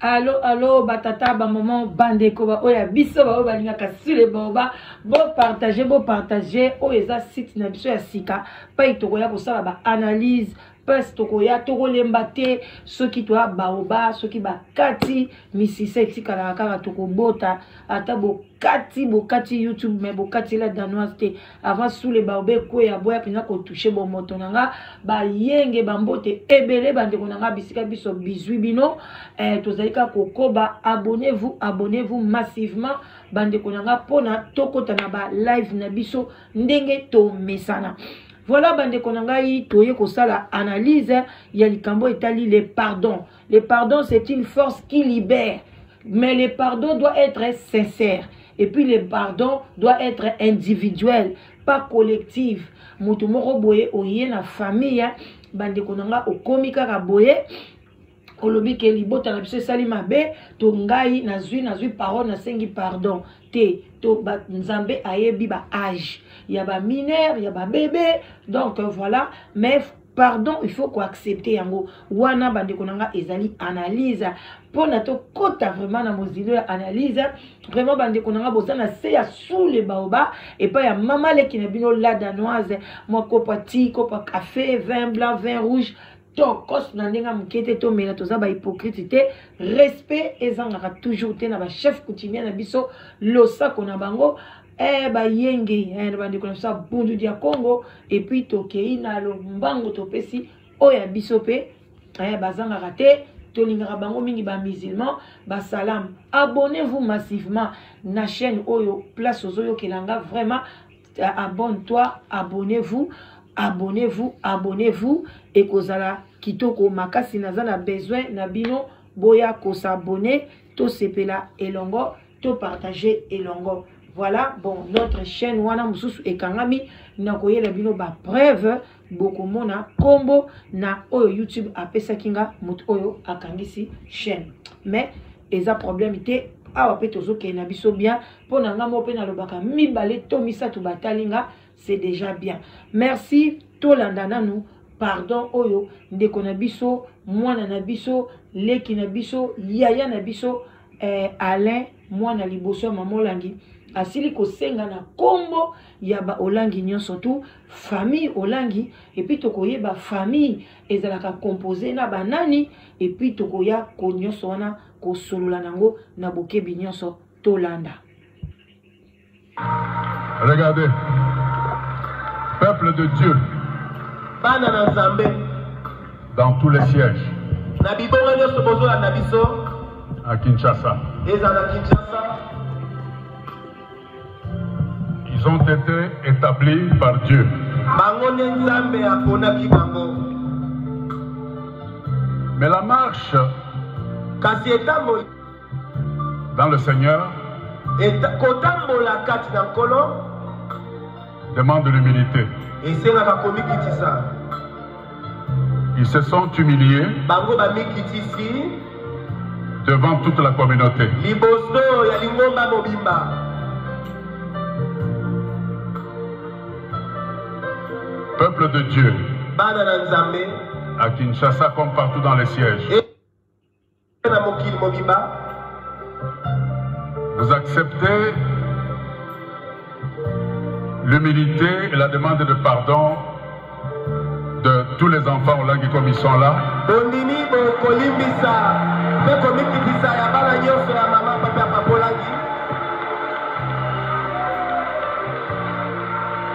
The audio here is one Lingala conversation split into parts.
alo alo batata bamama bandeko baoyo ya biso baoyo balingaka sule baoba bopartage bopartage oyo eza site na biso ya sika pai tokoya kosala baanalyse pasi tokoya tokolemba te soki toya baoba soki bakati misisa etikalaka kaka tokobota ata bo bokati bokati youtube me bokati la danoise te avant sule baobe ekweya boya mpenza kotouche bomoto na nga bayenge bambote ebele bandeko na nga bisika biso bizwi bino eh, tozali kaka kokoba abonnez vous abonnez vous massivement bandeko na nga mpona tokota na ba live na biso ndenge tomesana voilà bandeko na ngai toye kosala analyse ya likambo etali le pardon le pardon c'est une force qui libère mais le pardon doit être sincère et puis le pardon doit être individuel pas collective moto moko boye oye na famille ya bandeko na nga okomi kaka boye olobi ke libota na biso esali mabe to ngai nazwi nazwi parole nasengi pardon te to ba, nzambe ayebi ba age ya ba mineur ya ba bebe donc voilà mais pardon il faut koaccepte yango wana bandeko na nga ezali analyse mpo na tokɔta vraiment na mozilo ya analyse vraiment bandeko na nga boza na se ya sule baoba epai ya mama leki na bino la danoise mwa kopa ti kopa café vin blanc vin rouge tokos na ndenge ya moke te tomela toza bahypocrite te respect ezangaka toujours te na bachef coutumier na biso losako na bango eh, bayenge eh, na bandeko na biso ya bundu dia congo epuis tokei na lombango topesi oyo ya biso mpe eh, bazangaka te tolingaka bango mingi bamusulman basalam abonnez vous massivement na chaîne oyo place ozoyokela nga vraiment eh, abonne toi abonnez vous abonnez vous abonnez vous ekozala kitoko makasi naza na besoin na bino boya kosabone tosepela elongo to partage elongo voilà bon notre chaîne wana mosusu ekangami nakoyela bino bapreuve bokomona nkombo na oyo youtube apesaki nga moto oyo akangisi chaîne mais eza problème te awa mpe tozokende na biso bien mpo na ngai moko mpe nalobaka mibale to misato batali nga c'est déjà bien merci tolanda nanu pardon oyo ndeko na biso mwana na biso leki na biso yaya na biso eh, alain mwana liboso ya mama olangi asili kosenga na nkombo ya baolangi nyonso tu famille olangi epuis tokoyeba famille ezalaka compose na banani epuis tokoya ko nyonso wana kosolola na yango na bokebi nyonso tolanda Regardez. Peuple de Dieu. Bana na Nzambe. Dans tous les sièges. Na bibonga nyonso bozolanda biso. À Kinshasa. Ezala Kinshasa. Ils ont été établis par Dieu. Bango nde Nzambe aponaki bango. Mais la marche. Kasi etamboli. Dans le Seigneur. Et kotambola kati na Nkolo. Demande l'humilité. Esengaka komikitisa. Ils se sont humiliés. Bango bamikitisi. Devant toute la communauté. Liboso ya lingomba mobimba. Peuple de Dieu. Bana na Nzambe. À Kinshasa comme partout dans les sièges. Et na mokili mobimba vous acceptez l'humilité et la demande de pardon de tous les enfants olangi comme ils sont là bondimi bokolimbisa mpe komikitisa ya bana nyonso ya mama papa ya papa olangi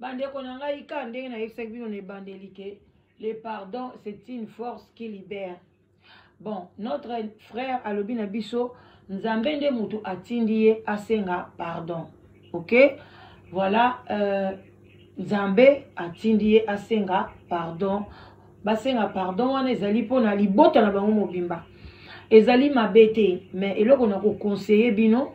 bandeko na ngai ka ndenge nayebisaki bino na ebandeli ke le pardon c'est une force qui libère bon notre frère alobi na biso nzambe nde motu atindi ye asenga pardon ok voilà euh, nzambe atindi ye asenga pardon basenga pardon wana ezali mpo na libota na bango mobimba ezali mabe te mais eloko na kokonseye bino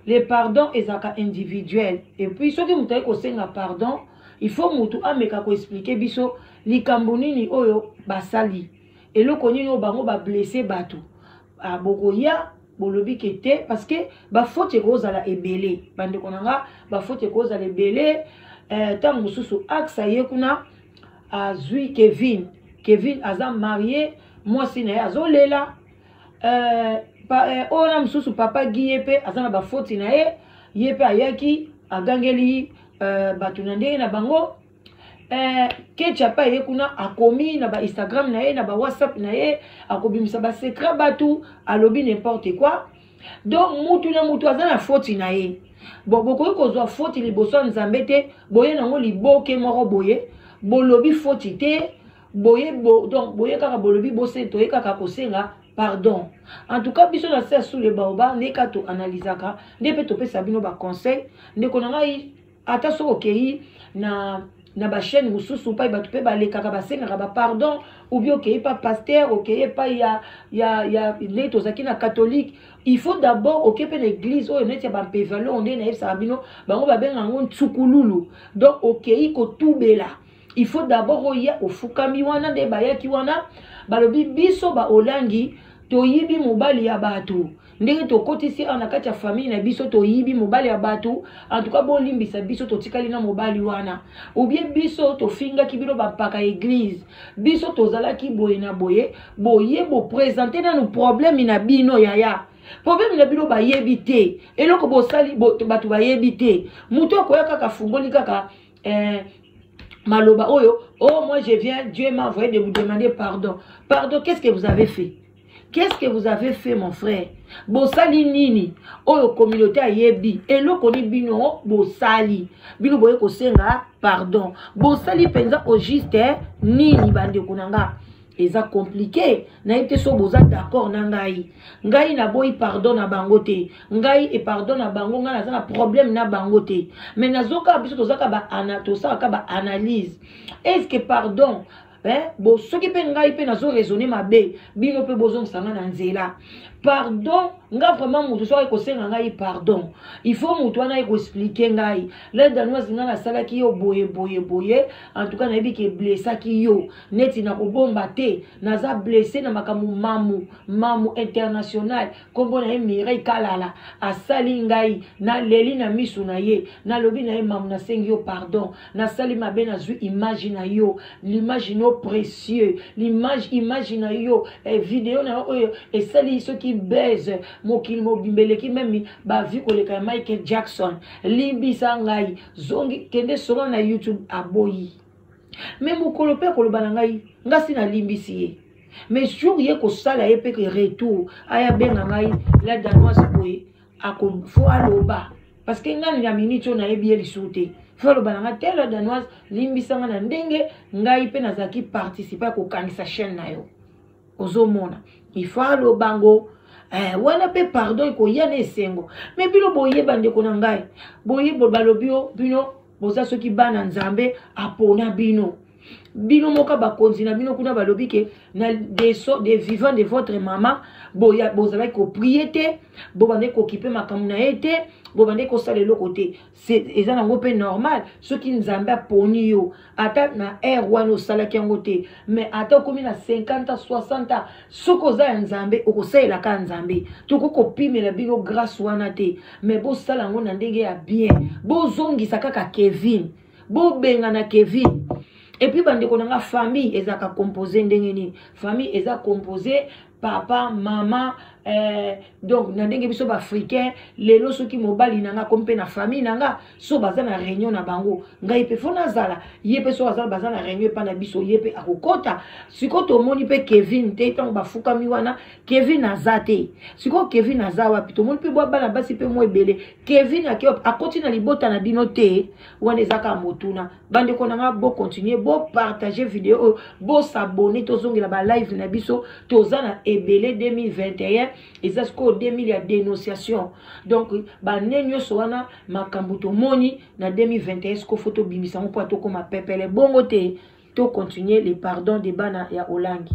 le pardon ezalaka individuel epuis soki moto ayei kosenga pardon il faut motu ameka koexplike biso likambo nini oyo basali eloko nini oyo bango bablesse bato ah, bokoya bolobi ke te parce que bafaute ekozala ebele bandeko na nga bafaute ekozala ebele ntango eh, mosusu axe ye kuna azui kevin kevin aza marie mwasi na ye azolela euh, euh, oyo na mosusu papa gi ye mpe aza na bafoti na ye ye mpe ayaki agangeli euh, bato na ndenge na bango eh, kecha mpe aye kuna akomi na bainstagram na ye na bawhatsapp na ye akobimisa basecret bato alobi n'importe quoi donc mutu na mutu aza na foti na ye bon bokoki kozwa foti liboso ya nzambe te boye nango liboke moko boye bolobi foti te boye bo, donc boye kaka bolobi bose toye kaka kosenga pardon en tout cas biso na se sous le baoba nde ka toanalysaka nde mpe topesa bino baconseil ndeko na ngai ata soki okei na na bachaîne mosusu mpai bato mpe balekaka basengaka bapardon oubien okei pa paster okei epai ya, ya, ya ndenge tozalaki na catholique il faut d'abord oke mpe na église oyo neti ya bampevalo nde nayebisaka bino bango babengaka yango nsukululu donc okei kotubela il faut d'abord oya ofukami wana nde bayaki wana balobi biso baolangi toyibi mobali ya bato ndenge tokotisi awa na kati ya famille na biso toyibi mobali ya bato antuka bolimbisa biso totikali na mobali wana obie biso tofingaki bino bampaka eglize biso tozalaki boye na boye boye bopresente nanu probleme na bino yaya probleme na bino bayebi te eloko bosali bato bayebi te moto akoya kaka afungoli kaka eh, maloba oyo oh moi je viens dieu m'a envoyé de vous demander pardon pardon qu'est-ce que vous avez fait qu'est-ce que vous avez fait mon frère bosali nini oyo communauté ayebi eloko ni bino bosali bino boye kosenga pardon bosali mpenza au juste nini bandeko na nga eza compliqué nayebi te so boza d'accord na ngai ngai naboyi pardon na bango te ngai e pardon na bango ngai naza na problème na bango te mais nazokaka biso tozaka tosalaka ba analyse est ce que pardon eh, bo soki mpe ngai mpe nazo raisonne mabe bino mpe bozongisa ngai na nzela pardon nga vraiment moto soki ekosenga ngai pardon il faut moto wana ekoexplike ngai la danoise ngai nasalaki yo boye boye boye en tout cas nayebi ke blessaki yo neti nakobomba te naza blesse na makambo mamu mamu international nkombo na ye mirei kalala asali ngai naleli na miso na ye nalobi na ye mamu nasengi yo pardon nasali mabe nazwi image na yo l'image no précieux l'image image na yo eh, video na yo oyo esali soki base mokili mobimba eleki meme bavi koleka ya michael jackson limbisa ngai zongi kende solo na youtube aboyi me mokolo mpe akoloba na ngai ngai si nalimbisi ye mais jour ye kosala ye mpe retour aya abenga ngai la danoise boye fo aloba parce que ngai na minute oyo nayebi ye lisusu te fo aloba na ngai te la danoise limbisa ngai na ndenge ngai mpe nazalaki participe ya kokangisa chaîne na yo ozomona ifo aloba ngo eh, wana mpe pardon ekoya na esengo me bino boyeba ndeko na ngai boye balobi yo bino boza soki bana nzambe apona bino bino moko bakonzi na bino kuna balobi ke na des, so, des vivants de votre mama bozalaki koprie te bobandaki kokipe makambo na ye te bobandaki kosala eloko te eza nango mpe normal soki nzambe aponi yo ata na aire wana osalaki yango te mais ata okomi na 50 ans 60 ans soki oza ya nzambe okosalela kaka nzambe tokoki kopimela bino grâce wana te mais bosala yango na ndenge ya bien bozongisa kaka kevin bobengana kevin epuis bandeko na nga famille ezalaka compose ndenge nini famille eza compose papa mama eh, donc na ndenge biso baafricain lelo soki mobali na nga komi mpe na famille na nga so baza na réunion na bango ngai mpe fo nazala ye mpe so azala baza na réunion epai na biso ye mpe akokɔta sikoyo tomoni mpe kevin te ntango bafukami wana kevin aza te sikoyo kevin aza wapi tomoni mpe bwa bana basi mpe mwa ebele kevin akoti na libota na bino te wana ezaka motuna bandeko na ngai bocontinue bopartage video oyo bosabone tozongela balive na biso toza na ebele 2021 eza sikoyo 2000 ya dénonciation donc bane nyonso wana makambo tomoni na 2021 sikoyo fo tobimisa yango mpo atokoma pepele bongo te tocontinue le pardon de bana ya olangi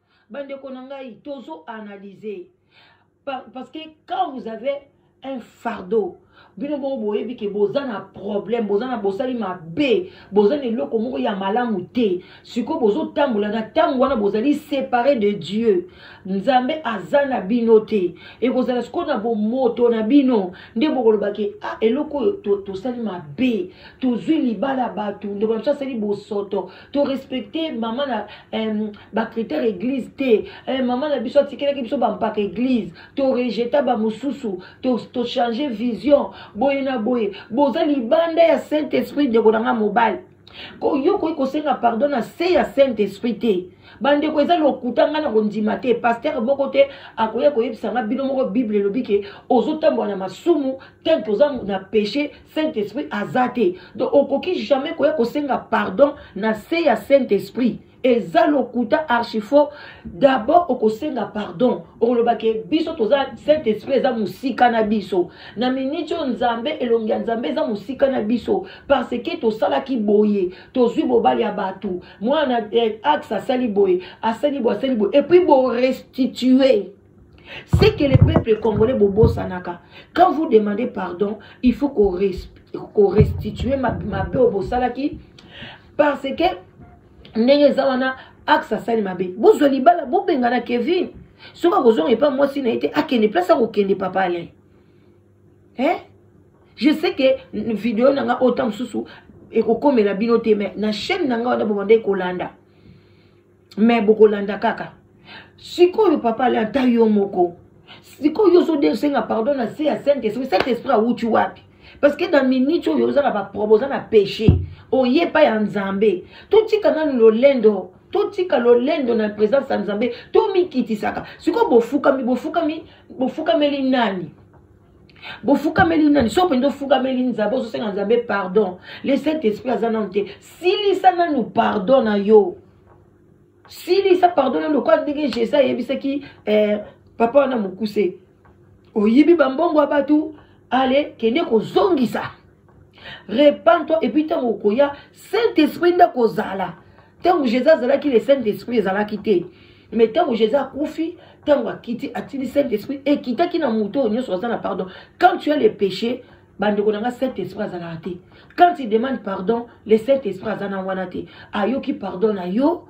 bandeko na ngai tozo analyse parce que quand vous avez un fardeau bino bongo boyebi ke boza na problème boza na bosali mabe boza na eloko moko ya malamu te sikoyo bozotambola na ntango wana bozali séparé de dieu nzambe aza na bino te ekozala sikoyo na bomoto na bino nde bokoloba ke ah, eloko oyo tosali mabe tozwi libala bato ndeko na biso asali bosoto to respecte mama na euh, bacritère église te euh, mama na biso atikelaki biso bampaka église to rejeta bamosusu tochange to vision boye na boye boza libanda ya saint esprit ndeko na ngai mobali yo okoki kosenga pardon na se ya saint esprit te bandeko eza lokuta ngai na kondima te paster moko te akoya koyebisa ngai bino moko bible elobi ke ozotambola na masumu tanke oza na peche saint esprit aza te donc okoki jamais koya kosenga pardon na se ya saint esprit eza lokuta archifo d'abord okosenga pardon okoloba ke biso toza saint esprit eza mosika na biso na miniti oyo nzambe elongi ya nzambe eza mosika na biso parce ke tosalaki boye tozwi bobali ya bato mwana eh, axe asali boye asali boye asali boye epuis borestitue C'est que les peuples congolais bobo sanaka. Quand vous demandez pardon, il faut qu'on qu'on restitue ma mabe au bosalaki parce que ndenge eza wana axe asali mabe bozwa libala bobengana kevin soki akozonga epa mwasi na ye te akende place akokende papa alain eh? je sais que video na nga ota mosusu ekokomela bino te mais na chaîne na nga wana bobandaki kolanda me bokolanda kaka sikoyo papa ale ata yo moko sikoyo ozosenga pardon na se ya saint esprit saint esprit awuti wapi parce que na minute oyo oza na baprobe oza na péché oye epai ya nzambe totika nanu lolendo totika lolendo na présence ya nzambe tomikitisaka sikoyo bofukami bofukami bofukameli nani bofukameli nani so mpenza ofukameli nzambe ozosenga nzambe pardon le saint esprit aza nanu te silisa nanu pardon na yo silisa pardon nanu lokola ndenge jésus ayebisaki eh, papa wana mokuse oyibi bambongo ya bato ale kende kozongisa repent toi epuis ntango okoya saint esprit nde akozala ntango jésus azalaki le saint esprit ezalaki te mais ntango jésus akufi ntango akiti atindi saint esprit ekitaki na moto oyo nyonso aza na pardon quand tu as le péché bandeko na nga saint esprit azalaka te quand il demande pardon le saint esprit aza na wana te ayoki pardon na yo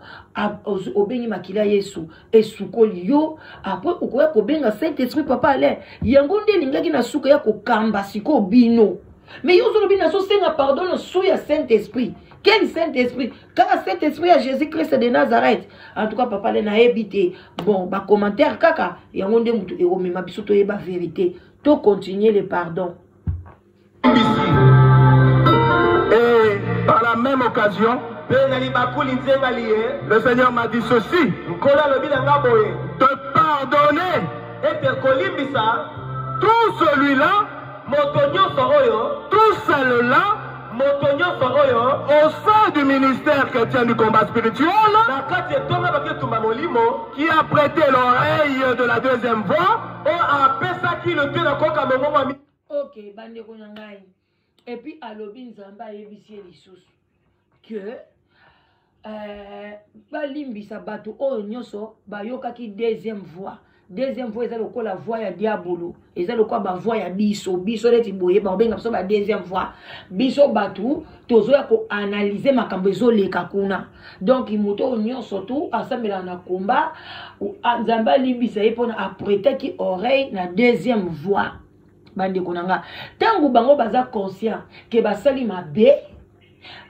obengi makila yesu esukoli yo apres okoya kobenga saint esprit papa alain yango nde elingaki na suka ya kokamba sikoyo bino mais yo ozolobi nazosenga pardon na su ya saint esprit quel saint esprit kaka cet esprit ya jésus christ de nazareth en tout cas papa le nayebi te bon bacommentaire kaka yango nde motu ekomema biso toyeba vérité to continuer le pardon Et par la même occasion, le Seigneur m'a dit ceci de pardonner tout celui-là Moto nyonso oyo. Tout cela. Moto nyonso oyo. Au sein du ministère chrétien du combat spirituel. Na kati etonga baketumba molimo. Qui a prêté l'oreille de la deuxième voix. Oyo apesaki lote na koyoka mongongo ya. Ok bandeko na ngai. Epuis alobi nzambe ayebisi ye lisusu. que euh, balimbisa bato oyo nyonso bayokaki deuxième voix deuxième voix eza lokola voix ya diabolo eza lokola bavoix ya biso biso neti boye bakobenga biso badeuxième voix biso bato tozoya koanalyze makambo ezoleka kuna donk moto oyo nyonso tu asambelaka na komba nzambe alimbisa ye mpona apretaki oreille na deuxième voix bandeko na nga ntango bango baza conscient ke basali mabe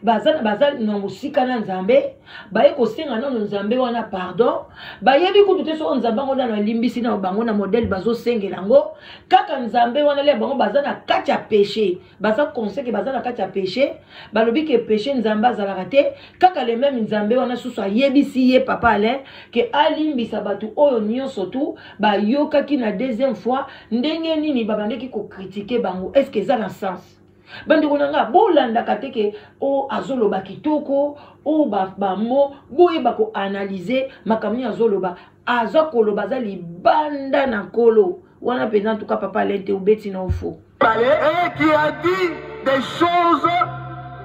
baza baza na mosika na nzambe baye kosenga nano nzambe wana pardon bayebi kutu te soko nzambe yango nano alimbisi nano bango na modele bazosengela yango kaka nzambe wana le bango baza na kati ya peche baza conseke baza na kati ya peche balobi ke peche nzambe azalaka te kaka le meme nzambe wana susu ayebisi ye papa alain ke alimbisa bato oyo nyonso tu bayokaki na deuxième fois ndenge nini babandaki kokritike bango est ce que eza na sens bandeko na ngai bolandaka te ke o oh, azoloba kitoko o oh, bamo boyeba koanalyze makambo nini azoloba aza koloba aza libanda na nkolo wana mpenza en tout cas papa alain te obeti na ofo pale et qui a dit des choses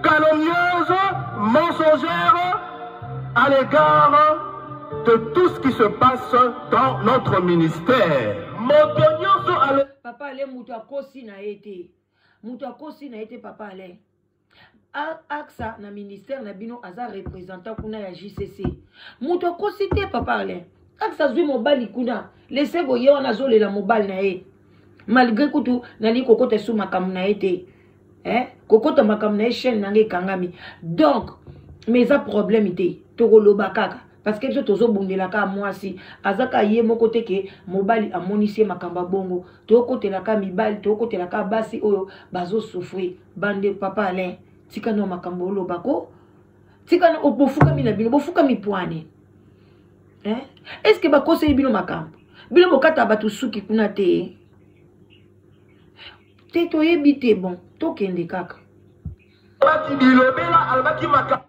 calomnieuses mensongères à l'égard de tout ce qui se passe dans notre ministère moto nyonso papa alain moto akosi na ye te moto akosi na ye te papa alain axa na ministère na bino aza représentant kuna ya jcc moto akosi te papa alain axa azwi mobali kuna lesego ye wana azolela mobali na ye malgré kutu nalingi kokota esu makambo na ye te eh? kokota makambo na ye chaîne na ngai ekangami donc mais eza problème te tokoloba kaka parce que biso tozobundela kaka mwasi aza kaka ye moko te ke mobali amonisi ye makambo ya bongo tokotela kaka mibali tokotela kaka basi oyo bazosouffrir bande papa alain tika nao makambo oloba ko tika na bofukami na bino bofukami pwane eh? est ce que bakoseli bino makambo bino bokata bato suki kuna te te toyebi te bon tokende kaka alobaki bilobela alobaki makambo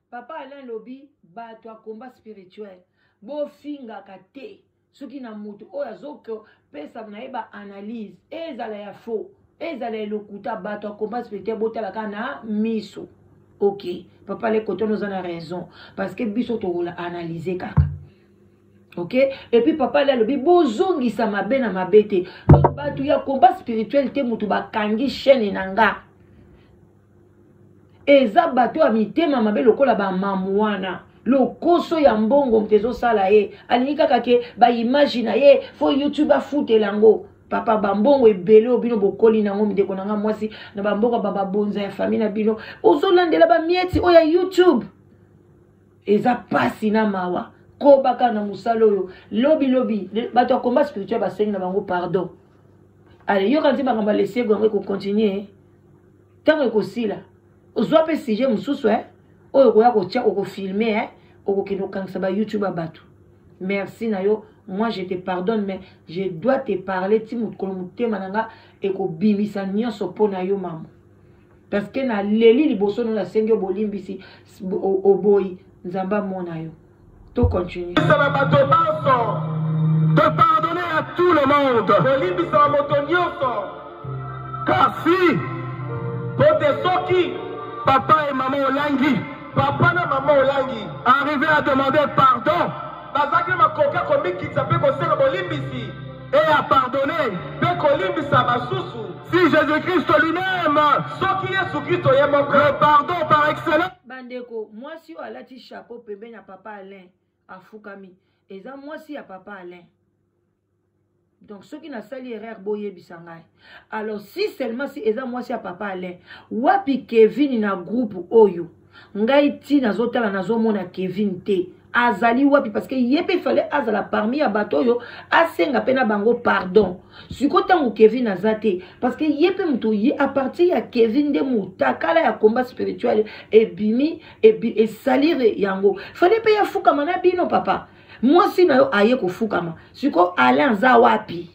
Papa Alain lobi bato ya combat spirituel bofingaka te soki na moto oyo azopesa na ye baanalyse ezala ya faux ezala ya lokuta bato ya combat spirituel botalaka na miso ok papa le coton oza na raison parce que biso tokola analyse kaka ok epuis papa le alobi bozongisa mabe na mabe te bato ya combat spirituel te moto bakangi chaîne na nga eza bato ya mitema mabe lokola bamamu wana lokoso ya mbongo moto ezosala ye alingi kaka ke baimage na ye fo youtube afutela yango papa bambongo ebele oyo bino bokoli nango mindeko na nga mwasi na bamboka bababonza ya famille na bino ozolandela bamieti oyo ya youtube eza mpasi na mawa kobaka na mosala oyo lobi lobi bato ya combat spirituel basengi na bango pardon ale yoka nti makambo alesego yango ekokontinue ntango ekosila ozwa mpe sujet mosusu eh? oyo okoya kotya okofilme eh? okokende kokangisa ba youtube ya bato merci na yo moi je te pardonne mais je dois te parler ti mokolo motema na nga ekobimisa nyonso mpo na yo mama parce que naleli liboso no nasengi yo bolimbisi oboyi nzambe amona yo To continue. Tala bato banso. De pardonner à tout le monde. Kolimbisa moto nyonso. Kasi. Pote soki. Papa et maman olangi. Papa na maman olangi. Arrivé à demander pardon. Bazaki na makoki ya komikitisa mpe kosenga bolimbisi. Et à pardonner. Mpe kolimbisa basusu. Si Jésus-Christ lui-même. Soki Yesu Kristo ye moko. Le pardon par excellence. bandeko mwasi oyo alati chapeau pembeni ya papa alain afukami eza mwasi ya papa alain donc soki nasali erreur boyebisa ngai alors si seulement si eza mwasi ya papa alain wapi kevin na groupe oyo ngai ti nazotala nazomona kevin te azali wapi parce que ye mpe fale azala parmi ya bato oyo asenga mpe na bango pardon siko ntango kevin aza te parce que ye mpe moto ye a partir ya kevin nde motakala ya combat spirituel ebimi ebi, esalire yango fale mpe yafukama na bino papa mwasi na yo aye kofukama siko alain aza wapi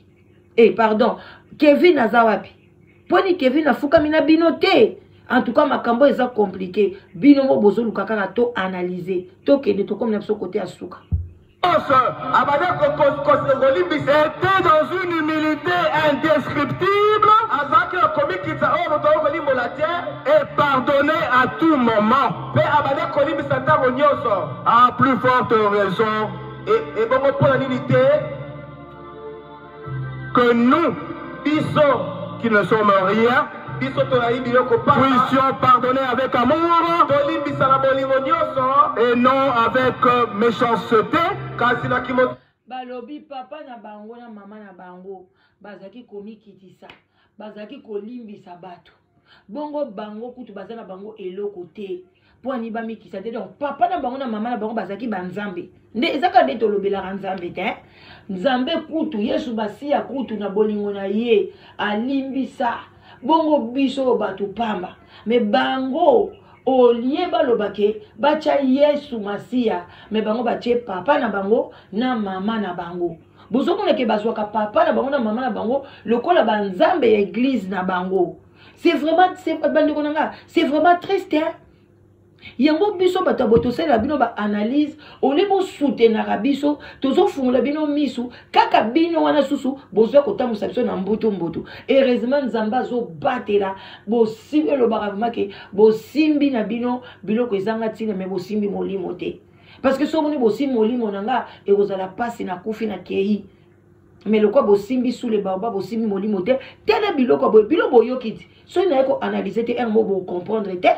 e eh, pardon kevin aza wapi poni kevin afukami na bino te en tout cas makambo eza compliqué bino mo bozoluka kaka to analyse tokende tokomi na biso kote ya suka abandi kolimbisa ete dans une humilité indescriptible azalaki na komikitisa oyo moto oyo kolimbola te et pardonne à tout moment mpe abandi kolimbisa ntango nyonso à plus forte raison ebongo mpo na nini te Que nous, biso qui ne sommes rien, biso toyebi biloko pamba puissions pardonner avec amour tolimbisa na bolingo nyonso et non avec euh, méchanceté kasi na kimo balobi papa na bango na mama na bango bazalaki komikitisa bazalaki kolimbisa bato bongo bango kutu baza na bango eloko te mpo ani bamikisa te donc papa na bango na mama na bango bazalaki banzambe nde eza kaka nde tolobelaka nzambe te nzambe kutu yesu basiya kutu na bolingo na ye alimbisa bongo biso oyo bato pamba me bango olie baloba ke batya yesu masiya me bango batye papa na bango na mama na bango bozomona ke bazwaka papa na bango na mama na bango lokola banzambe ya eglize na bango c'est vraiment bandeko na nga c'est vraiment triste hein? yango biso bato ya boye tosalela bino baanalyse olie bosutenaka biso tozofungola bino misu kaka bino wana susu bozwa kotambusa biso na mbutu mbutu heureusement nzambe azobatela bosimbi elobaka vraimen ke bosimbi na bino biloko ezanga ntina me bosimbi molimo te parce que soki omoni bosimbi molimo na nga ekozala mpasi nakufi na kei mais lokwa bosimbi sule baoba bosimbi molimo te tele biloko boye bilo boyoki ti soki naye koanalyse te yango bocomprendre te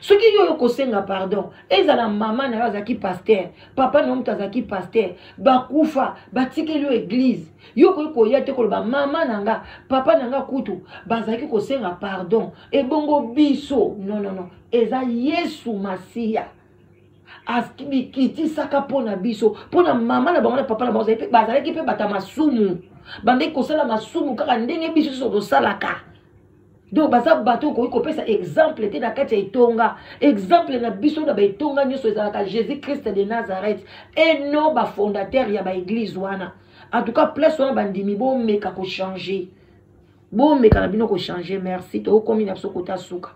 soki yo oyo kosenga pardon ezala mama na yo azalaki paster papa na yo moto azalaki paster bakufa batikeli yo eglize yo okoki koya te koloba mama na nga papa na nga kutu bazalaki kosenga pardon ebongo biso nonono eza yesu masiya bikitisaka mpo na biso mpo na mama na bango na papa na bango bazalaki mpe bata masumu bandeki kosala masumu kaka ndenge biso nyonso tosalaka donc baza bato okoki kopesa exemple te na kati ya etonga exemple na biso na baetonga nyonso ezalaka jésus christ de nazareth e non bafondateur ya baeglise wana en tout cas place wana bandimi bomeka kochange bomeka na bino kochange merci tokomi na biso kota suka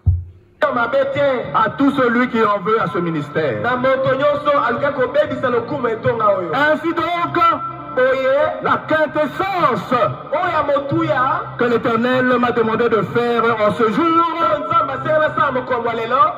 mabe te à tout celui qui en veut à ce ministère na moto nyonso alingi kobebisa lokumu etonga oyo ainsi donc boye la quintessence oyo ya motuya que l'éternel m'a demandé de faire en ce jour nzambe asenga nasala mokolo ya lelo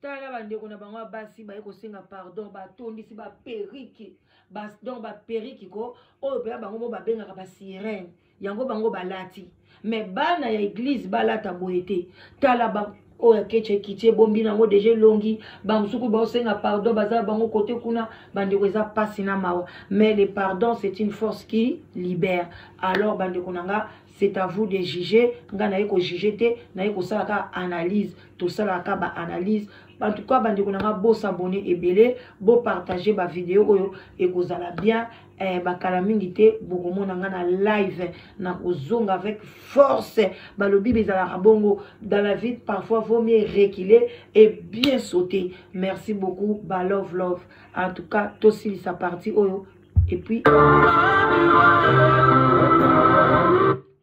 tala bandeko na bango ya basi baye kosenga pardon batondisi baperiki donc baperiki ko oyo mpenza bango mo babengaka basirene yango bango balati me bana ya eglize balata boye te tala oyo oh, akeci ekiti ebombi nango deja elongi bamosuku baosenga pardon baza bango kote kuna bandeko eza mpasi na mawa mais le pardon c'est une force qui libère alors bandeko na nga c'est à vous de juger nga naye ko juger te naye kosala ka analyse tosalaka ka ba analyse en tout cas bandeko na nga bo s'abonner ebele bo partager ba video oyo ekozala bien eh, bakala mingi te bokomona nga na live na kozonga avec force balobi bezalaka bongo dans la vie parfois vaut mieux reculer et bien sauter merci beaucoup ba love love en tout cas tosilisa parti oyo et puis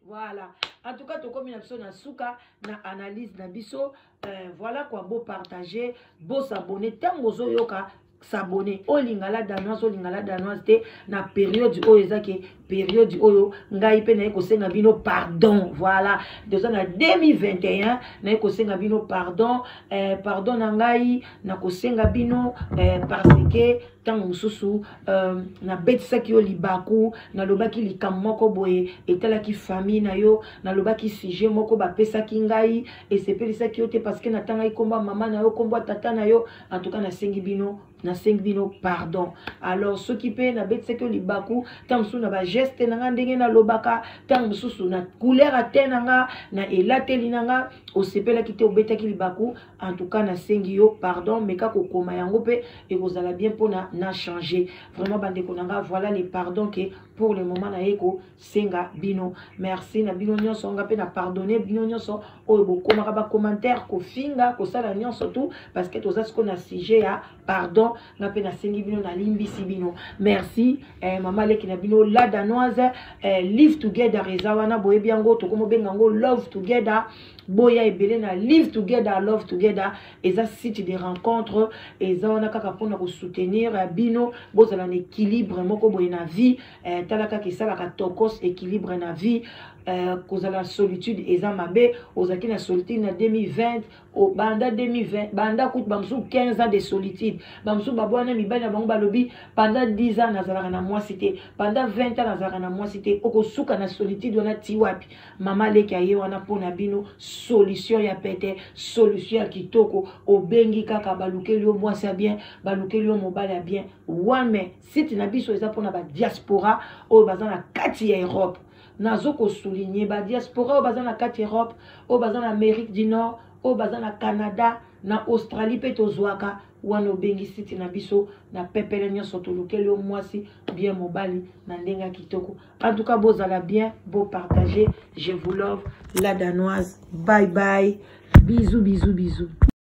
voilà en tout cas tokomi na biso na suka na analyse na biso euh, voilà quoi beau partager beau s'abonner ntango ozoyoka s'abonner olinga la danoise olinga la danoise te na periode oyo eza ke periode oyo ngai mpe naye kosenga bino pardon voilà toza na 2021 naye kosenga bino pardon eh, pardon na ngai nakosenga bino eh, parce que ntango mosusu uh, nabetisaki yo libaku nalobaki likambo moko boye etalaki famille na yo nalobaki sujet moko bapesaki ngai esepelisaki yo te parce que natangaki nkombo ya mama na yo nkombo ya tata na yo en tout cas nasengi bino nasengi bino pardon alors soki mpe nabetisaki yo libaku ntango mosusu na bageste na nga ndenge nalobaka ntango mosusu na couleur ya te na nga na elateli na nga osepelaki te obetaki libaku en tout cas nasengi yo pardon meka kokoma yango mpe ekozala bien mpona na changer vraiment bandeko na nga voilà les pardon ke pour le moment naye kosenga bino merci na bino nyonso nga mpe na pardonne bino nyonso oyo bokomaka bacommentaire kofinga kosala nyonso tout parce que toza sikoyo na sujet ya pardon nga mpe nasengi bino nalimbisi bino merci eh, mama leki na bino la danoise eh, live together eza wana boyebi yango tokomobenga yango love together boya ebele na live together love together eza site de rencontre eza wana kaka mpona kosoutenir eh, bino bozala na équilibre moko boye na vie eh, tala kaka esalaka tokos équilibre na vie eh, kozala solitude eza mabe ozalaki na solitude na 2020 o banda 2020 banda kutu bamosusu 15 ans de solitude bamosusu babwana mibali na bango balobi banda 10 ans nazalaka na mwasi te banda 20 ans nazalaka na mwasi te okosuka na solitude wana ti wapi mama leki aye wana mpo na bino solution ya pete solution ya kitoko obengi kaka balukeli yo mwasi ya bien balukeli yo mobali ya bien wame site na biso eza mpo na badiaspora oyo baza na kati ya europe nazo ko souligner ba diaspora oyo baza na kati Europe oyo baza na Amérique du Nord oyo baza na Canada na Australie mpe tozwaka wana obengi site na biso na pepele nyonso tolukeli yo mwasi bien mobali na ndenge ya kitoko en tout cas bozala bien bopartage je vous love la danoise bye bye bisous bisous bisous